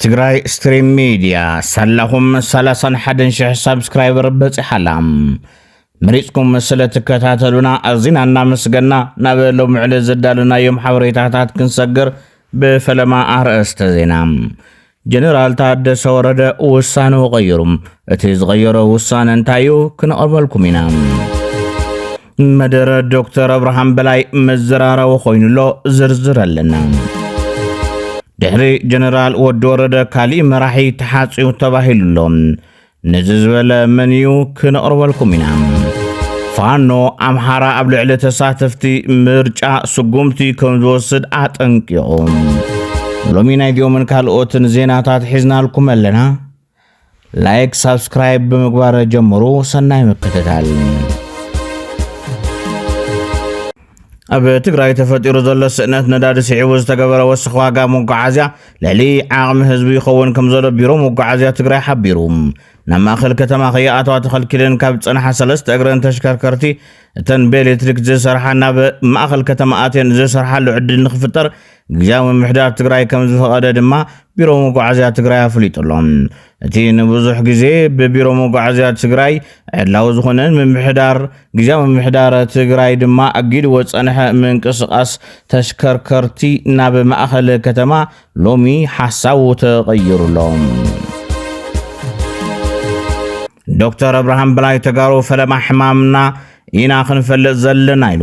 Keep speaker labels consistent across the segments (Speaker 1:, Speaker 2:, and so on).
Speaker 1: ትግራይ ስትሪም ሚድያ ሳላኹም 31000 ሳብስክራይበር በፂሓላ መሪፅኩም ስለትከታተሉና ኣዚና እናመስገና ናብ ሎሚ ዕለት ዘዳለናዮም ሓበሬታታት ክንሰግር ብፈለማ ኣርእስተ ዜና ጀነራል ታደሰ ወረደ ውሳነኡ ቀይሩ። እቲ ዝቐየሮ ውሳነ እንታይ እዩ? ክንቐርበልኩም ኢና። መደረ ዶክተር ኣብርሃም በላይ መዘራረቢ ኮይኑ ኣሎ ዝርዝር ኣለና ድሕሪ ጀነራል ወዲ ወረደ ካሊእ መራሒ ተሓፅዩ ተባሂሉ ኣሎ ነዚ ዝበለ መን እዩ ክንቕርበልኩም ኢና። ፋኖ ኣምሓራ ኣብ ልዕሊ ተሳተፍቲ ምርጫ ስጉምቲ ከም ዝወስድ ኣጠንቂቑ። ሎሚ ናይ ዲኦምን ካልኦትን ዜናታት ሒዝናልኩም ኣለና። ላይክ፣ ሳብስክራይብ ብምግባር ጀምሩ። ሰናይ ምክትታል ኣብ ትግራይ ተፈጢሩ ዘሎ ስእነት ነዳዲ ስዒቡ ዝተገበረ ወስኽ ዋጋ መጓዓዝያ ልዕሊ ዓቕሚ ህዝቢ ይኸውን ከም ዘሎ ቢሮ መጓዓዝያ ትግራይ ሓቢሩ። ናብ ማእኸል ከተማ ከይኣተዋ ተኸልኪለን ካብ ዝፀንሓ ሰለስተ እግረን ተሽከርከርቲ እተን ብኤሌክትሪክ ዝሰርሓ ናብ ማእኸል ከተማ ኣትየን ዝሰርሓሉ ዕድል ንክፍጠር ግዝያዊ ምምሕዳር ትግራይ ከምዝፈቐደ ድማ ቢሮ መጓዓዝያ ትግራይ ኣፍሊጡ ኣሎ። እቲ ንብዙሕ ግዜ ብቢሮ መጓዓዝያ ትግራይ ዕላዊ ዝኾነ ምምሕዳር ግዝያዊ ምምሕዳር ትግራይ ድማ ኣጊድዎ ዝጸንሐ ምንቅስቓስ ተሽከርከርቲ ናብ ማእኸል ከተማ ሎሚ ሓሳቡ ተቐይሩ ኣሎ። ዶክተር ኣብርሃም በላይ ተጋሩ ፈለማ ሕማምና ኢና ክንፈልጥ ዘለና ኢሉ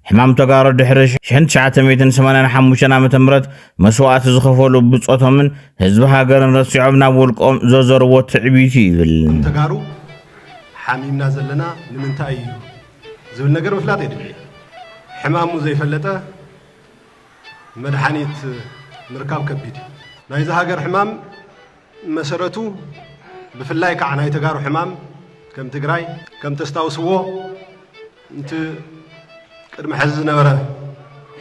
Speaker 1: ሕማም ተጋሩ ድሕሪ 1985 ዓ ም መስዋእቲ ዝኸፈሉ ብፆቶምን ህዝቢ ሃገርን ረሲዖም ናብ ውልቆም ዘዘርዎ ትዕቢት እዩ ይብል ተጋሩ
Speaker 2: ሓሚምና ዘለና ንምንታይ እዩ ዝብል ነገር ምፍላጥ የድሊ ሕማሙ ዘይፈለጠ መድሓኒት ምርካብ ከቢድ ናይዚ ሃገር ሕማም መሰረቱ ብፍላይ ካዓ ናይ ተጋሩ ሕማም ከም ትግራይ ከም ተስታውስዎ ንቲ ቅድሚ ሐዚ ዝነበረ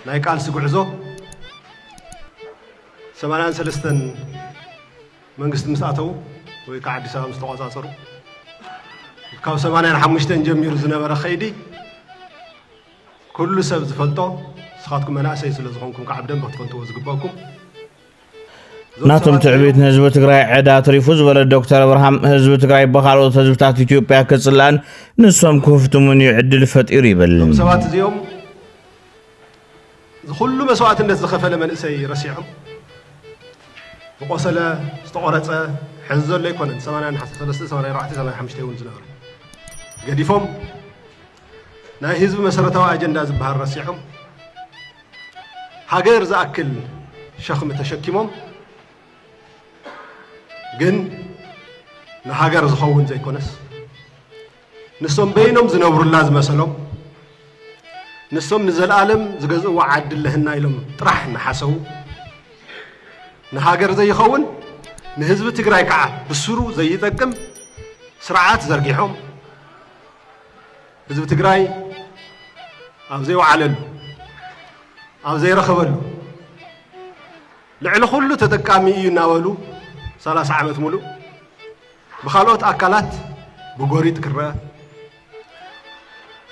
Speaker 2: ናይ ቃልሲ ጉዕዞ ሰማንያን ሰለስተን መንግስቲ ምስ ኣተው ወይ ካዓ ኣዲስ ኣበባ ምስ ተቆፃፀሩ ካብ ሰማንያን ሓሙሽተን ጀሚሩ ዝነበረ ከይዲ ኩሉ ሰብ ዝፈልጦ ንስኻትኩም መናእሰይ ስለ ዝኾንኩም ካዓ ብደንቢ ክትፈልጥዎ ዝግበእኩም
Speaker 1: ናቶም ትዕቢት ንህዝቢ ትግራይ ዕዳ ትሪፉ ዝበለ ዶክተር ኣብርሃም ህዝቢ ትግራይ ብካልኦት ህዝብታት ኢትዮጵያ ክፅላእን ንሶም ክህፍትሙን እዩ ዕድል ፈጢሩ ይብል ሰባት እዚኦም
Speaker 2: ዝኩሉ መስዋእትነት ዝኸፈለ መንእሰይ ረሲዖም ዝቆሰለ ዝተቆረፀ ሕዚ ዘሎ ኣይኮነን 8 እውን ዝነበረ ገዲፎም ናይ ህዝቢ መሰረታዊ ኣጀንዳ ዝበሃል ረሲዖም ሃገር ዝኣክል ሸኽሚ ተሸኪሞም ግን ንሃገር ዝኸውን ዘይኮነስ ንሶም በይኖም ዝነብሩላ ዝመሰሎም ንሶም ንዘለኣለም ዝገዝእዋ ዓዲ ኣለህና ኢሎም ጥራሕ እናሓሰቡ ንሃገር ዘይኸውን ንህዝቢ ትግራይ ከዓ ብስሩ ዘይጠቅም ስርዓት ዘርጊሖም ህዝቢ ትግራይ ኣብ ዘይወዓለሉ፣ ኣብ ዘይረኸበሉ ልዕሊ ኩሉ ተጠቃሚ እዩ እናበሉ ሰላሳ ዓመት ሙሉእ ብካልኦት ኣካላት ብጎሪጥ ክረኣ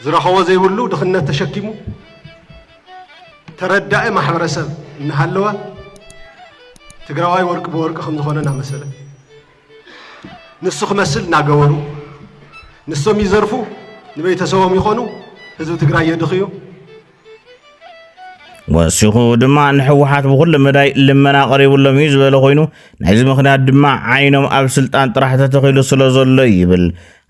Speaker 2: ዝረኸቦ ዘይብሉ ድኽነት ተሸኪሙ ተረዳኢ ማሕበረሰብ እናሃለወ ትግራዋይ ወርቂ ብወርቂ ከምዝኾነ እናመሰለ ንሱ ክመስል እናገበሩ ንሶም ይዘርፉ፣ ንቤተሰቦም ይኾኑ፣ ህዝቢ ትግራይ የድኽዩ።
Speaker 1: ወሲኹ ድማ ንሕወሓት ብኩሉ መዳይ ልመና ቀሪብሎም እዩ ዝበለ ኮይኑ ናይዚ ምክንያት ድማ ዓይኖም ኣብ ስልጣን ጥራሕ ተተኺሉ ስለ ዘሎ ይብል።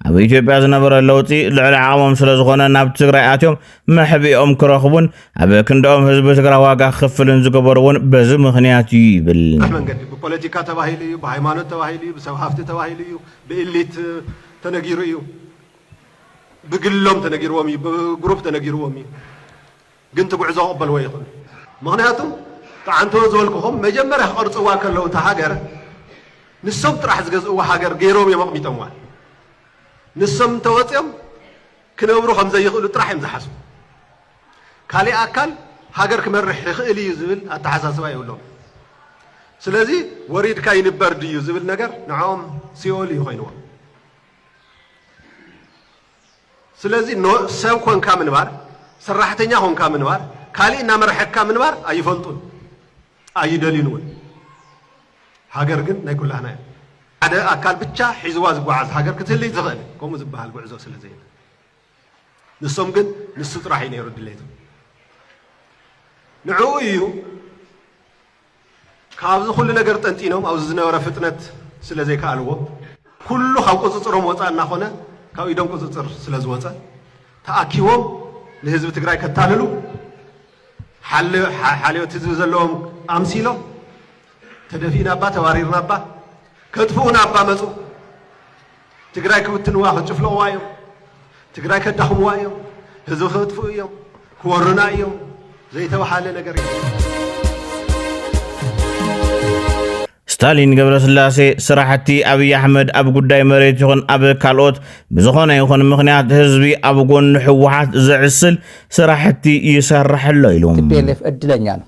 Speaker 1: ኣብ ኢትዮጵያ ዝነበረ ለውጢ ልዕሊ ዓቕሞም ስለ ዝኾነ ናብ ትግራይ ኣትዮም መሕብኦም ክረኽቡን ኣብ ክንድኦም ህዝቢ ትግራይ ዋጋ ክኽፍልን ዝገበሩ እውን በዚ ምኽንያት እዩ ይብል። መንገዲ ብፖለቲካ
Speaker 2: ተባሂሉ እዩ፣ ብሃይማኖት ተባሂሉ እዩ፣ ብሰብ ሃፍቲ ተባሂሉ እዩ፣ ብኢሊት ተነጊሩ እዩ፣ ብግሎም ተነጊርዎም እዩ፣ ብግሩፕ ተነጊርዎም እዩ። ግን ትጉዕዞ ክቅበልዎ ይክእሉ ምክንያቱ ጥዓንቶ ዝበልኩኹም መጀመርያ ክቀርጽዋ ከለው እታ ሃገር ንሶም ጥራሕ ዝገዝእዋ ሃገር ገይሮም እዮም ኣቅሚጦምዋ ንሶም እንተወጽዮም ክነብሩ ከምዘይክእሉ ጥራሕ እዮም ዝሓስቡ ካሊእ ኣካል ሃገር ክመርሕ ይክእል እዩ ዝብል ኣተሓሳስባ የብሎም ስለዚ ወሪድካ ይንበር ድዩ ዝብል ነገር ንዖም ሲኦል እዩ ኮይንዎም። ስለዚ ን ሰብ ኮንካ ምንባር ሰራሕተኛ ኮንካ ምንባር ካሊእ እናመረሐካ ምንባር ኣይፈልጡን ኣይደልዩን እውን ሃገር ግን ናይ ኩላህና እያ ሓደ ኣካል ብቻ ሒዝዋ ዝጓዓዝ ሃገር ክትህልይ ትኽእል ከምኡ ዝበሃል ጉዕዞ ስለ ዘየለ ንሶም ግን ንሱ ጥራሕ እዩ ነይሩ ድሌቶም ንዕኡ እዩ ካብዚ ኩሉ ነገር ጠንጢኖም ኣብዚ ዝነበረ ፍጥነት ስለ ዘይከኣልዎ፣ ኩሉ ካብ ቁጽጽሮም ወጻኢ እናኾነ ካብ ኢዶም ቁጽጽር ስለ ዝወጸ፣ ተኣኪቦም ንህዝቢ ትግራይ ከታልሉ፣ ሓልዮት ህዝቢ ዘለዎም ኣምሲሎም፣ ተደፊእናባ ተባሪርናባ፣ ከጥፍኡናባ መጹ። ትግራይ ክብትንዋ ክጭፍልቕዋ እዮም ትግራይ ከዳኽምዋ እዮም ህዝቢ ክጥፍኡ እዮም ክወሩና እዮም ዘይተባሃለ ነገር እዩ
Speaker 1: ስታሊን ገብረስላሴ ስራሕቲ ኣብዪ ኣሕመድ ኣብ ጉዳይ መሬት ይኹን ኣብ ካልኦት ብዝኾነ ይኹን ምኽንያት ህዝቢ ኣብ ጎኑ ህወሓት ዘዕስል ስራሕቲ ይሰርሕ ኣሎ ኢሉ ቲፒኤልኤፍ ዕድለኛ
Speaker 3: ነው።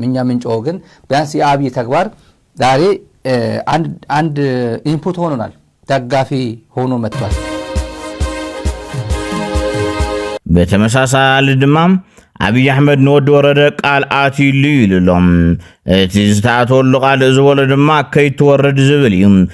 Speaker 3: ምኛ ምንጮ ግን ቢያንስ የአብይ ተግባር ዛሬ አንድ ኢንፑት ሆኖናል፣ ደጋፊ ሆኖ መጥቷል።
Speaker 1: ብተመሳሳሊ ድማ ኣብዪ ኣሕመድ ንወዲ ወረደ ቃል ኣትዩሉ ኢሉ ኣሎ እቲ ዝተኣተወሉ ቃል ዝበሎ ድማ ከይትወርድ ዝብል እዩ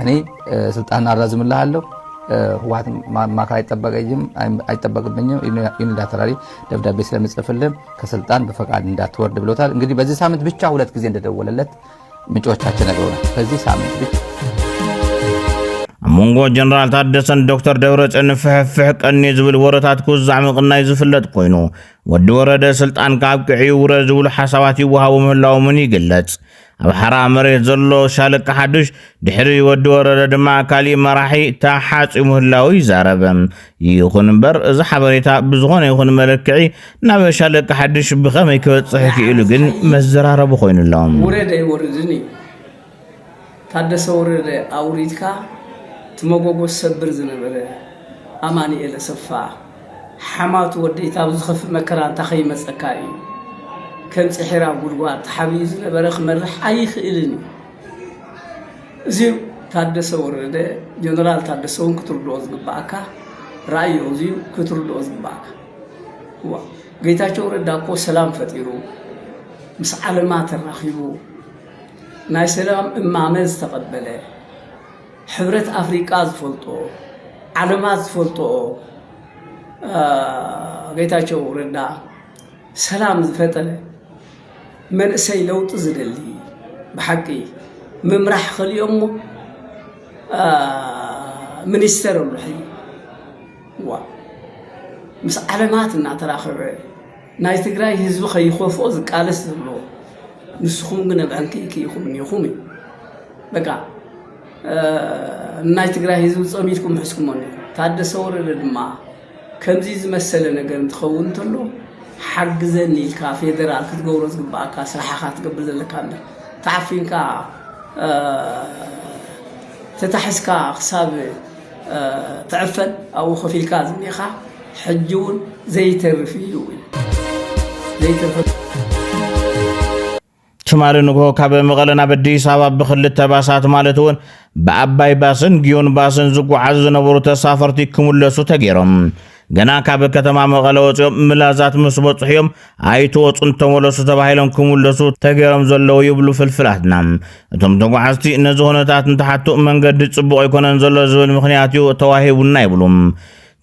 Speaker 3: እኔ ስልጣን አራዝምልሃለሁ ህወሓት ማካ አይጠበቀኝም አይጠበቅብኝም ዩኒላተራሊ ደብዳቤ ስለምጽፍልህ ከስልጣን በፈቃድ እንዳትወርድ ብሎታል። እንግዲህ በዚህ ሳምንት ብቻ ሁለት ጊዜ እንደደወለለት ምንጮቻችን ነግረውናል። በዚህ ሳምንት ብቻ ኣብ
Speaker 1: መንጎ ጀነራል ታደሰን ዶክተር ደብረፅዮን ፍሕፍሕ ቀኒ ዝብል ወረታት ክውዛዕ ምቕናይ ዝፍለጥ ኮይኑ ወዲ ወረደ ስልጣን ካብ ቅዕዩ ውረ ዝብሉ ሓሳባት ይወሃቡ ምህላዎምን ይግለጽ ኣብ ሓራ መሬት ዘሎ ሻለቃ ሓዱሽ ድሕሪ ወዲ ወረደ ድማ ካሊእ መራሒ ተሓጺ ምህላዉ ይዛረብ። ይኹን እምበር እዚ ሓበሬታ ብዝኾነ ይኹን መለክዒ ናብ ሻለቃ ሓዱሽ ብኸመይ ክበጽሕ ክኢሉ ግን መዘራረቢ ኮይኑ ኣሎ። ወረደ ይወርድን
Speaker 4: እዩ ታደሰ ወረደ ኣውሪድካ ትመጎጎ ሰብር ዝነበረ ኣማኒኤል ኣሰፋ ሓማት ወደይ ታብ ዝኸፍእ መከራ እንታ ከይመጸካ እዩ ከም ጽሒራ ጉድጓድ ተሓቢኡ ዝነበረ ክመርሕ ኣይኽእልን እዩ እዚ ታደሰ ወረደ ጀነራል ታደሰ እውን ክትርድኦ ዝግባኣካ ራእዮ እዚ ክትርድኦ ዝግባኣካ እዋ ጌታቸው ረዳ እኮ ሰላም ፈጢሩ ምስ ዓለማ ተራኺቡ ናይ ሰላም እማመ ዝተቐበለ ሕብረት ኣፍሪቃ ዝፈልጦ ዓለማት ዝፈልጦኦ ጌታቸው ረዳ ሰላም ዝፈጠረ መንእሰይ ለውጢ ዝደሊ ብሓቂ ምምራሕ ኸሊኦሞ ሚኒስተር ኣሎ ሕዚ ዋ ምስ ዓለማት እናተራኸበ ናይ ትግራይ ህዝቢ ከይከፍኦ ዝቃለስ ዘሎ ንስኹም ግን ኣብ ዕንክይ ክይኹም እኒኹም እዩ በቃ ናይ ትግራይ ህዝቢ ፀሚትኩም ሕዝኩሞ እኒኹም ታደሰ ወረደ ድማ ከምዚ ዝመሰለ ነገር እንትኸውን እንተሎ ሓግዘኒ ኢልካ ፌደራል ክትገብሮ ዝግባእካ ስራሕኻ ትገብር ዘለካ እንዳ ተዓፊንካ ተታሒዝካ ክሳብ ትዕፈን ኣብኡ ኮፍ ኢልካ ዝኒኻ ሕጂ ውን ዘይተርፍ እዩ ዘይተርፍ
Speaker 1: ትማሊ ንግሆ ካብ መቐለ ናብ ኣዲስ ኣበባ ብክልተ ባሳት ማለት እውን ብኣባይ ባስን ግዮን ባስን ዝጓዓዙ ዝነበሩ ተሳፈርቲ ክምለሱ ተገይሮም ገና ካብ ከተማ መቐለ ወፂኦም ምላዛት ምስ በፅሑ እዮም ኣይትወፁን ተመለሱ ተባሂሎም ክምለሱ ተገይሮም ዘለዉ ይብሉ ፍልፍላትና። እቶም ተጓዓዝቲ ነዚ ኩነታት እንትሓቱ መንገዲ ፅቡቕ ኣይኮነን ዘሎ ዝብል ምክንያት እዩ ተዋሂቡና ይብሉ።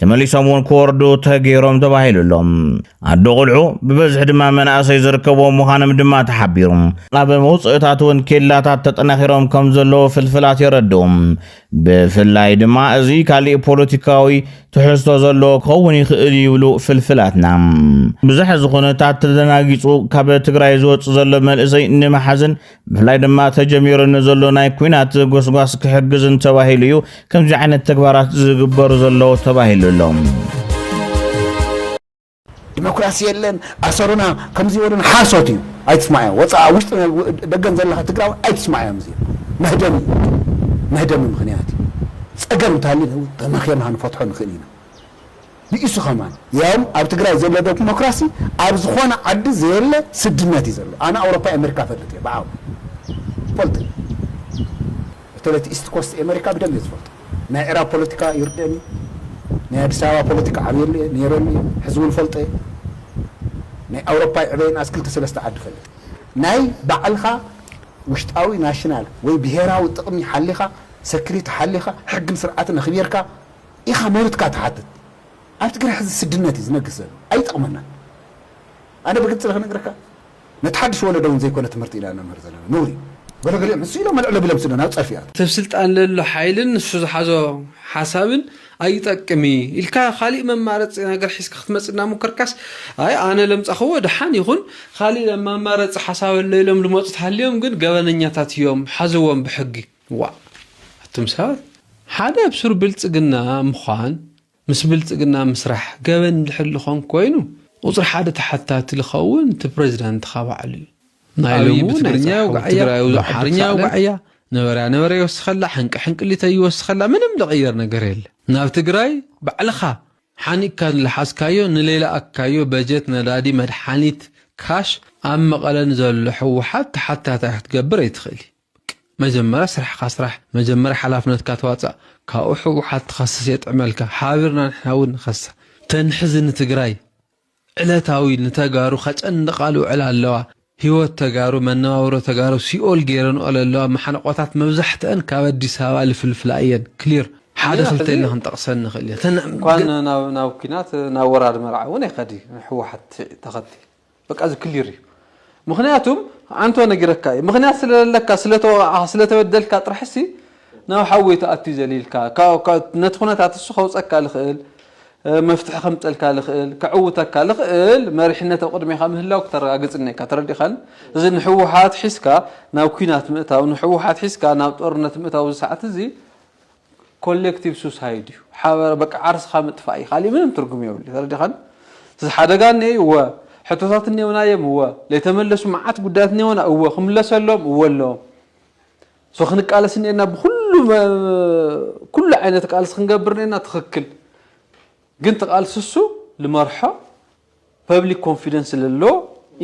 Speaker 1: ተመሊሶም እውን ክወርዱ ተገይሮም ተባሂሉ ኣሎ ኣዶ ቁልዑ ብበዝሒ ድማ መናእሰይ ዝርከብዎም ምዃኖም ድማ ተሓቢሩ ኣብ መውፅእታት እውን ኬላታት ተጠናኺሮም ከም ዘለዉ ፍልፍላት የረድኡ ብፍላይ ድማ እዚ ካሊእ ፖለቲካዊ ትሕዝቶ ዘለዎ ክኸውን ይኽእል ይብሉ ፍልፍላትና ብዝሕ እዚ ኩነታት ተደናጊፁ ካብ ትግራይ ዝወፅ ዘሎ መንእሰይ ንምሓዝን ብፍላይ ድማ ተጀሚሩ ንዘሎ ናይ ኩናት ጎስጓስ ክሕግዝን ተባሂሉ እዩ ከምዚ ዓይነት ተግባራት ዝግበሩ ዘለዉ ተባሂሉ ኣሎ።
Speaker 5: ዲሞክራሲ የለን ኣሰሩና ከምዚ ወደን ሓሶት እዩ ኣይትስማዕዮ ወፃእ ኣብ ውሽጢ ደገን ዘለካ ትግራዊ ኣይትስማዕዮም እዚ መህደሚ እዩ መህደሚ ምክንያት እዩ ፀገም እንተሃልዩ ተመኺርና ክንፈትሖ ንኽእል ኢና ብኢሱ ከማን ያውም ኣብ ትግራይ ዘሎ ደሞክራሲ ኣብ ዝኮነ ዓዲ ዘየለ ስድነት እዩ ዘሎ ኣነ ኣውሮፓ ኤመሪካ እፈልጥ እየ ብዓው ይፈልጦ እየ በተለይ እቲ ኢስት ኮስት ኤመሪካ ብደንብ እየ ዝፈልጦ ናይ ዕራብ ፖለቲካ ይርደን እዩ ናይ ኣዲስ ኣበባ ፖለቲካ ዓብየሉ እየ ነይረሉ እየ ሕዚ እውን እፈልጦ እየ ናይ ኣውሮፓ ይዕበየን ኣስ ክልተ ሰለስተ ዓዲ እፈልጥ እየ ናይ ባዕልካ ውሽጣዊ ናሽናል ወይ ብሄራዊ ጥቅሚ ሓሊካ ሰክሪቲ ሓሊካ ሕግን ስርዓትን ኣክቢርካ ኢኻ መብትካ ትሓትት ኣብ ትግራይ ሕዚ ስድነት እዩ ዝነግስ ዘሎ ኣይጠቕመናን ኣነ ብግልፂ ልክነግረካ ነቲ ሓድሽ ወለዶ እውን ዘይኮነ ትምህርቲ ኢና ነምህር ዘለና ነውሪ እዩ ገለ ገሊኦም ንሱ ኢሎም ኣልዕሎ ቢሎም ስለ ናብ ፀርፊ ይኣትው። ሰብ ስልጣን ለሎ
Speaker 6: ሓይልን ንሱ ዝሓዞ ሓሳብን ኣይጠቅም እዪ ኢልካ ካሊእ መማረፂ ነገር ሒዝካ ክትመፅእ እናሞከርካስ ኣይ ኣነ ለምፃክዎ ደሓን ይኩን ካሊእ መማረፂ ሓሳብ ኣሎ ኢሎም ልመፁ ተሃልዮም ግን ገበነኛታት እዮም ሓዝዎም ብሕጊ ዋእ ኣቱም ሰባት ሓደ ኣብ ሱር ብልጽግና ምዃን ምስ ብልጽግና ምስራሕ ገበን እንድሕር ልኾን ኮይኑ ቁጽሪ ሓደ ተሓታቲ ልኸውን እቲ ፕረዚዳንትኻ ባዕሉ እዩ። ናይ ሎሚ ብትግርኛ የውግዓያ ብኣምሓርኛ የውግዓያ ነበረያ ነበረ ይወስኸላ ሕንቂ ሕንቅሊተይ ይወስኸላ ምንም ልቕየር ነገር የለ ናብ ትግራይ ባዕልኻ ሓኒቕካ ንልሓስካዮ ንሌላኣካዮ በጀት ነዳዲ መድሓኒት ካሽ ኣብ መቐለ ንዘሎ ሕወሓት ተሓታታይ ክትገብር ኣይትኽእልይ። መጀመርያ ስራሕካ ስራሕ መጀመርያ ሓላፍነትካ ተዋፃእ ካብኡ ሕውሓት ትኸስስ የጥዕመልካ ሓቢርና ንሕና እውን ንኸስስ ተን ሕዚ ንትግራይ ዕለታዊ ንተጋሩ ከጨንቓ ልውዕላ ኣለዋ ሂወት ተጋሩ መነባብሮ ተጋሩ ሲኦል ገይረንኦ ለለዋ ማሓንቖታት መብዛሕትኣን ካብ ኣዲስ ኣበባ ልፍልፍላ እየን ክሊር ሓደ ክልተ ኢልና ክንጠቕሰን ንኽእል እንኳን ናብ
Speaker 7: ናብ ኩናት ናብ ወራር መርዓ እውን ኣይከድ እዩ ሕወሓት ተኸቲ በቃ እዚ ክሊር እዩ ምክንያቱም ኣንቶ ነጊረካ እዩ ምክንያት ስለለካ ስለተወቃዕካ ስለተበደልካ ጥራሕሲ ናብ ሓዊ ተኣትዩ ዘሊልካ ነቲ ኩነታት እሱ ከውፀካ ልኽእል መፍትሒ ከምፀልካ ልኽእል ከዕውተካ ልኽእል መሪሕነት ኣብ ቅድሜካ ምህላው ክተረጋግፅ እኒካ ተረዲኻን እዚ ንሕወሓት ሒዝካ ናብ ኩናት ምእታው ንሕወሓት ሒዝካ ናብ ጦርነት ምእታው እዚ ሰዓት እዚ ኮሌክቲቭ ሱሳይድ እዩ ሓበረ በቃ ዓርስኻ ምጥፋእ እዩ ካሊእ ምንም ትርጉም የብሉ ተረዲኻኒ እዚ ሓደጋ እኔ እዩ እወ ሕቶታት እኔውና እዮም እወ ለይተመለሱ መዓት ጉዳያት እኔውና እወ ክምለሰሎም እወ ኣለዎም ሶ ክንቃለስ እኔና ብኩሉ ኩሉ ዓይነት ቃልሲ ክንገብር እኔና ትኽክል ግን ተቃልሲ እሱ ልመርሖ ፐብሊክ ኮንፊደንስ ለሎ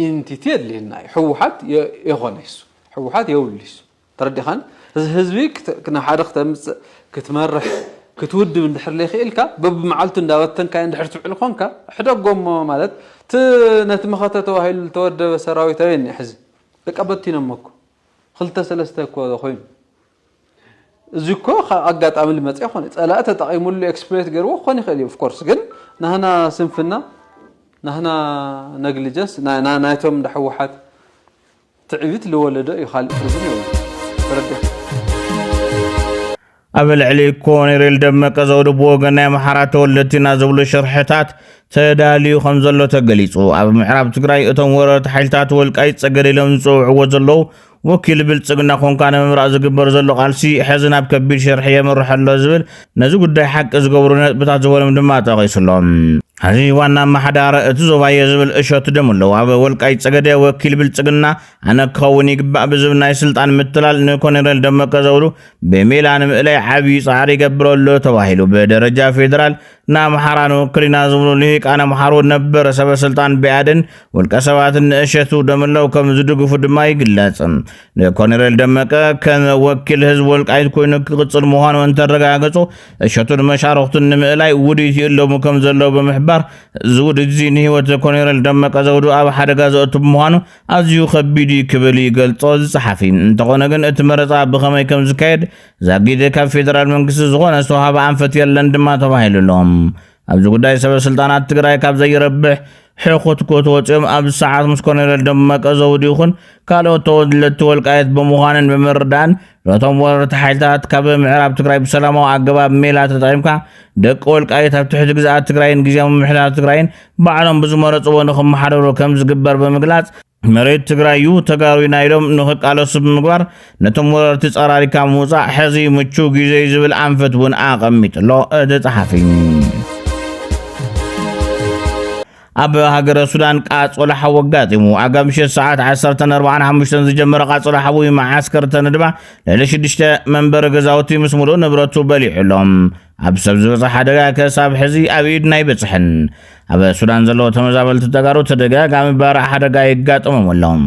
Speaker 7: ኢንቲቲ የድልየና እዩ ሕወሓት የኾነ ይሱ ሕወሓት የብሉ ይሱ ተረዲኻኒ እዚ ህዝቢ ናብ ሓደ ክተምጽእ ክትመርሕ ክትውድብ እንድሕር ለይክኢልካ በብመዓልቱ እንዳበተንካዮ እንድሕር ትውዕል ኮንካ ሕደጎሞ ማለት እቲ ነቲ መኸተ ተባሂሉ ዝተወደበ ሰራዊት ኣበይ እኒኦ ሕዚ በቃ በቲኖሞ እኮ ክልተ ሰለስተ እኮ ኮይኑ እዚ እኮ ካብ ኣጋጣሚ ልመፀ ይኾን ፀላኢ ተጠቂሙሉ ኤክስፕሎይት ገይርዎ ክኾን ይኽእል እዩ ኦፍኮርስ ግን ናህና ስንፍና ናህና ነግሊጀንስ ናይቶም እንዳ ህወሓት ትዕቢት ልወለዶ እዩ ካልእ ትርጉም
Speaker 1: የብሉን ተረዲእካ። ኣብ ልዕሊ ኮኔሬል ደመቀ ዘውዱ ብወገን ናይ ኣምሓራ ተወለድቲ ኢና ዝብሉ ሽርሕታት ተዳልዩ ከም ዘሎ ተገሊጹ። ኣብ ምዕራብ ትግራይ እቶም ወረርቲ ሓይልታት ወልቃይት ጸገደ ኢሎም ዝጽውዕዎ ዘለዉ ወኪል ብልጽግና ኮንካ ንምምራቕ ዝግበር ዘሎ ቃልሲ ሕዚ ናብ ከቢድ ሽርሒ የምርሕ ኣሎ ዝብል ነዚ ጉዳይ ሓቂ ዝገብሩ ነጥብታት ዝበሎም ድማ ጠቒሱ ኣሎ። ሐዚ ዋና ኣመሓዳሪ እቲ ዞባ እየ ዝብል እሸቱ ደምለው ኣብ ወልቃይት ፀገዴ ወኪል ብልፅግና ኣነ ክኸውን ይግባእ ብዝብል ናይ ስልጣን ምትላል ንኮኔሬል ደመቀ ዘውዱ ብሜላ ንምእላይ ዓብዪ ፃዕሪ ይገብር ኣሎ ተባሂሉ ብደረጃ ፌዴራል ንኣምሓራ ንውክልና ዝብሉ ልሂቃን ኣምሓሩ ነበር ሰበስልጣን ብኣድን ውልቀ ሰባትን ንእሸቱ ደምለው ከም ዝድግፉ ድማ ይግለፅ። ንኮነሬል ደመቀ ከም ወኪል ህዝቢ ወልቃይት ኮይኑ ክቕፅል ምዃኑ እንተረጋገፁ እሸቱን መሻርኽቱን ንምእላይ ውዲት ይእለሙ ከም ዘለዉ ብምሕባር እዚ ውዲት እዚ ንህይወት ኮነሬል ደመቀ ዘውዱ ኣብ ሓደጋ ዘእቱ ብምዃኑ ኣዝዩ ከቢድ እዩ ክብል ይገልጾ ዝጸሓፊ እንተኾነ ግን እቲ መረፃ ብኸመይ ከም ዝካየድ ዛጊድ ካብ ፌደራል መንግስቲ ዝኾነ ዝተዋሃበ ኣንፈት የለን ድማ ተባሂሉ ኣሎ ኣብዚ ጉዳይ ሰበ ስልጣናት ትግራይ ካብ ዘይረብሕ ሕኹትኩት ወፂኦም ኣብዚ ሰዓት ምስ ኮሎኔል ደመቀ ዘውዲ ይኹን ካልኦት ተወለድቲ ወልቃየት ብምዃንን ብምርዳእን ነቶም ወረርቲ ሓይልታት ካብ ምዕራብ ትግራይ ብሰላማዊ ኣገባብ ሜላ ተጠቒምካ ደቂ ወልቃየት ኣብ ትሕቲ ግዝኣት ትግራይን ግዜያዊ ምምሕዳር ትግራይን ባዕሎም ብዝመረፅዎ ንክመሓደሩ ከም ዝግበር ብምግላፅ መሬት ትግራይ እዩ ተጋሩ ኢና ኢሎም ንክቃለሱ ብምግባር ነቶም ወረርቲ ጸራሪካ ምውፃእ ሕዚ ምቹው ግዜ እዩ ዝብል ኣንፈት እውን ኣቐሚጡ ኣሎ እቲ ጸሓፊ ኣብ ሃገረ ሱዳን ቃጸሎ ሓዊ ኣጋጢሙ ኣጋብ ምሸት ሰዓት 14:45 ዝጀመረ ቃጸሎ ሓዊ መዓስከር ተነድባ ልዕሊ ሽዱሽተ መንበሪ ገዛውቲ ምስ ሙሉእ ንብረቱ በሊዑሎም ኣብ ሰብ ዝበፅሕ ሓደጋ ክሳብ ሕዚ ኣብ ኢድና ኣይበፅሕን። ኣብ ሱዳን ዘለዎ ተመዛበልቲ ተጋሩ ተደጋጋሚ ባርዕ ሓደጋ የጋጥሞም ኣሎም።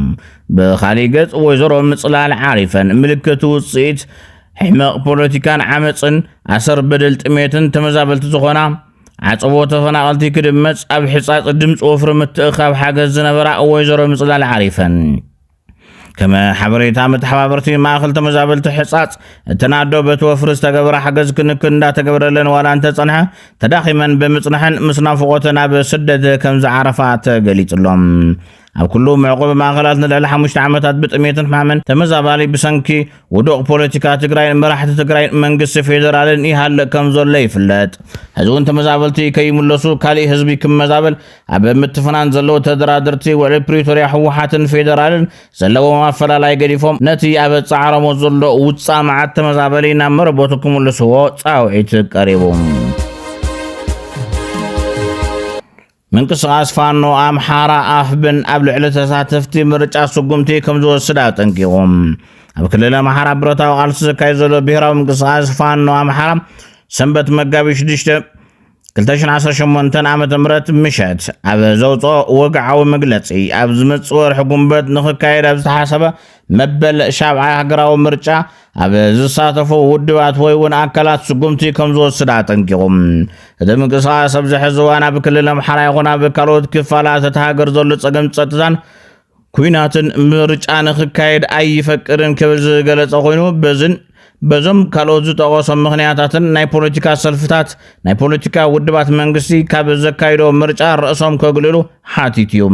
Speaker 1: ብኻሊእ ገፅ ወይዘሮ ምፅላል ዓሪፈን ምልክት ውፅኢት ሕመቕ ፖለቲካን ዓመፅን ኣሰር በደል ጥሜትን ተመዛበልቲ ዝኾና ዓፀቦ ተፈናቐልቲ ክድመፅ ኣብ ሕፃፅ ድምፂ ወፍሪ ምትእኻብ ሓገዝ ዝነበራ ወይዘሮ ምፅላል ዓሪፈን ከም ሓበሬታ መተሓባበርቲ ማእኸል ተመዛበልቲ ሕፃፅ እተን ኣዶ በቲ ወፍሪ ዝተገበረ ሓገዝ ክንክን እንዳተገብረለን ዋላ እንተፀንሐ ተዳኺመን ብምፅንሐን ምስ ናፍቖተን ኣብ ስደት ከም ዝዓረፋ ተገሊፅሎም ኣብ ኩሉ መዕቆቢ ማእኸላት ንልዕሊ ሓሙሽተ ዓመታት ብጥሜትን ሕማምን ተመዛባሊ ብሰንኪ ውዱቕ ፖለቲካ ትግራይን መራሕቲ ትግራይን መንግስቲ ፌዴራልን ይሃልእ ከም ዘሎ ይፍለጥ። ሕዚ እውን ተመዛበልቲ ከይምለሱ ካሊእ ህዝቢ ክመዛበል ኣብ ምትፍናን ዘለዉ ተደራድርቲ ውዕሊ ፕሪቶርያ ህወሓትን ፌደራልን ዘለዎም ኣፈላላይ ገዲፎም ነቲ ኣብ ጻዕሮሞ ዘሎ ውፃእ መዓት ተመዛበሊ ናብ መረቦቱ ክምልስዎ ጻውዒት ቀሪቡ ምንቅስቓስ ፋኖ ኣምሓራ ኣፍብን ኣብ ልዕሊ ተሳተፍቲ ምርጫ ስጉምቲ ከም ዝወስድ ኣጠንቂቑ ኣብ ክልል ኣምሓራ ብረታዊ ቃልሲ ዘካየድ ዘሎ ብሄራዊ ምንቅስቓስ ፋኖ ኣምሓራ ሰንበት መጋቢት 6 2018 ዓ ም ምሸት ኣብ ዘውፅኦ ወግዓዊ መግለፂ ኣብ ዝመፅእ ወርሒ ጉንበት ንክካየድ ኣብ ዝተሓሰበ መበል ሻብዓይ ሃገራዊ ምርጫ ኣብ ዝሳተፉ ውድባት ወይ እውን ኣካላት ስጉምቲ ከም ዝወስድ ኣጠንቂቑ እቲ ምንቅስቓስ ኣብዚ ሕዚ እዋን ኣብ ክልል ኣምሓራ ይኹን ኣብ ካልኦት ክፋላት እቲ ሃገር ዘሎ ፀገም ፀጥታን ኩናትን ምርጫ ንክካየድ ኣይፈቅድን ክብል ዝገለጸ ኮይኑ በዝን በዞም ካልኦት ዝጠቐሶም ምኽንያታትን ናይ ፖለቲካ ሰልፍታት ናይ ፖለቲካ ውድባት መንግስቲ ካብ ዘካይዶ ምርጫ ርእሶም ከግልሉ ሓቲት እዩ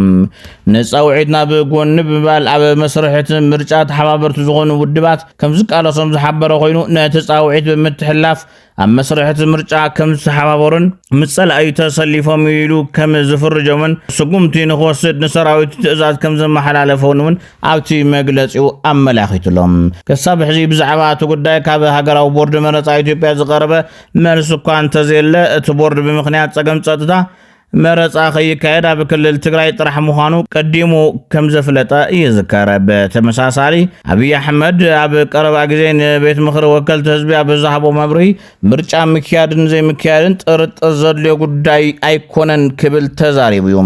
Speaker 1: ንፃውዒት ናብ ጎኒ ብምባል ኣብ መስርሕቲ ምርጫ ተሓባበርቲ ዝኾኑ ውድባት ከም ዝቃለሶም ዝሓበረ ኮይኑ ነቲ ፃውዒት ብምትሕላፍ ኣብ መስርሕ እቲ ምርጫ ከም ዝተሓባበሩን ምስ ጸላኢ ተሰሊፎም እዩ ኢሉ ከም ዝፍርጆምን ስጉምቲ ንክወስድ ንሰራዊት ትእዛዝ ከም ዘመሓላለፈውን እውን ኣብቲ መግለጺኡ ኣመላኺቱ ኣሎ። ክሳብ ሕዚ ብዛዕባ እቲ ጉዳይ ካብ ሃገራዊ ቦርድ መረጻ ኢትዮጵያ ዝቐረበ መልሲ እኳ እንተዘየለ እቲ ቦርድ ብምኽንያት ጸገም ጸጥታ መረፃ ከይካየድ ኣብ ክልል ትግራይ ጥራሕ ምዃኑ ቀዲሙ ከም ዘፍለጠ ይዝከር። ብተመሳሳሊ ኣብይ ኣሕመድ ኣብ ቀረባ ግዜ ንቤት ምኽሪ ወከልቲ ህዝቢ ኣብ ዝሃቦ መብሪ ምርጫ ምክያድን ዘይምክያድን ጥርጥር ዘድልዮ ጉዳይ ኣይኮነን ክብል ተዛሪቡ እዩ።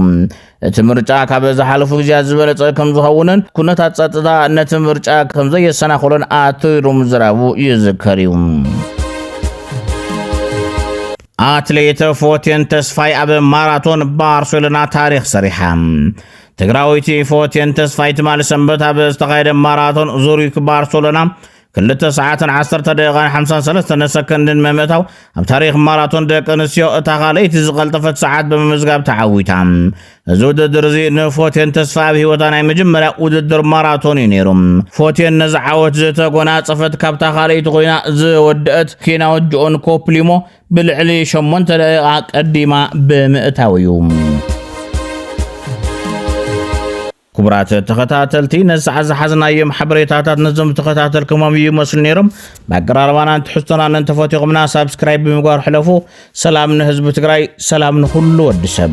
Speaker 1: እቲ ምርጫ ካብ ዝሓለፉ ግዜያት ዝበለፀ ከም ዝኸውንን ኩነታት ፀጥታ ነቲ ምርጫ ከም ዘየሰናኽሎን ኣትሩ ምዝራቡ ይዝከር እዩ። ኣትሌት ፎቴን ተስፋይ ኣብ ማራቶን ባርሴሎና ታሪኽ ሰሪሓ። ትግራዊቲ ፎቴን ተስፋይ ትማሊ ሰንበት ኣብ ዝተኻየደ ማራቶን ዙሪክ ባርሴሎና ክልተ ሰዓትን ዓሰርተ ደቂቓን ሓምሳን ሰለስተን ሰከንድን መምእታው ኣብ ታሪክ ማራቶን ደቂ ኣንስትዮ እታ ካልኣይቲ ዝቐልጠፈት ሰዓት ብምምዝጋብ ተዓዊታ እዚ ውድድር እዚ ንፎቴን ተስፋኣብ ህይወታ ናይ መጀመርያ ውድድር ማራቶን እዩ ነይሩ። ፎቴን ነዚ ዓወት ዝተጎናጸፈት ካብታ ካልኣይቲ ኮይና ዝወደአት ኬንያዊት ጆኦን ኮፕሊሞ ብልዕሊ ሸሞንተ ደቂቓ ቀዲማ ብምእታው እዩ። ክቡራት ተኸታተልቲ ነዚ ሰዓት ዝሓዝናዮም ሓበሬታታት ነዞም ዝተኸታተልኩሞም ይመስሉ ነይሮም። ብኣቀራርባናን ትሕዝቶናን እንተፈቲኹምና ሳብስክራይብ ብምግባር ሕለፉ። ሰላም ንህዝቢ ትግራይ ሰላም ንኹሉ ወዲ ሰብ